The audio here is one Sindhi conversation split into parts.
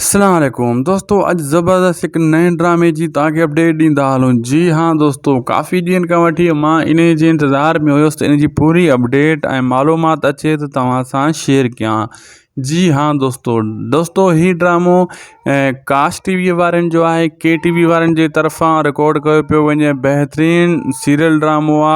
السلام عليڪم دوستو اڄ زبردست هڪ نئين ڊرامي جي توهان کي اپڊيٽ ڏيندا هلون جي ها دوستو ڪافي ڏينهن کان وٺي مان ان جي انتظار ۾ هيس ته ان جي پوري اپڊيٽ ۽ معلومات اچي ته توهان سان شيئر ڪيان جي ها دوستو دوستو هي ڊرامو ڪاسٽ ٽي وي وارن جو آهي ڪي ٽي وي وارن جي طرفان رڪارڊ ڪيو پيو وڃي بهترين سيريل ڊرامو آ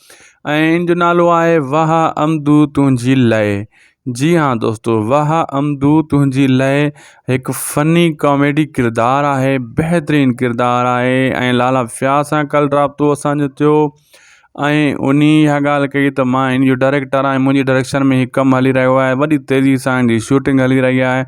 ۽ ان جو نالو آهي واهه امدو تنهنجي لئه جي ها دوستو واهه امدو تنهنجي لئه هڪ فني ڪاميڊي ڪردار آهي بهترين ڪردار آهي ۽ لالا فياض سان ڪل رابطو اسانجو ٿيو ۽ ان اها ڳالهه ڪئي ته مان ان جو ڊائريڪٽر آهي منهنجي ڊائريڪشن ۾ هي ڪم هلي رهيو آهي وڏي تيزي سان ان جي شوٽنگ هلي رهي آهي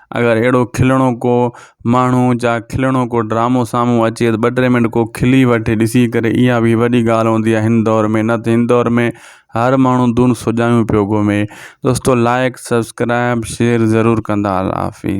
اگر اهڙو کلڻو ڪو ماڻهو جا کلڻو ڪو ڊرامو سامهون اچي ته ٻ ٽي منٽ ڪو کلي وٺي ڏسي ڪري اها بي وڏي ڳالهه هوندي آهي هن دور ۾ نه ته هن دور ۾ هر ماڻهو دون سجايون پيو گهمي دوستو لائق سبسڪرائب شيئر ضرور ڪندا الله حافظ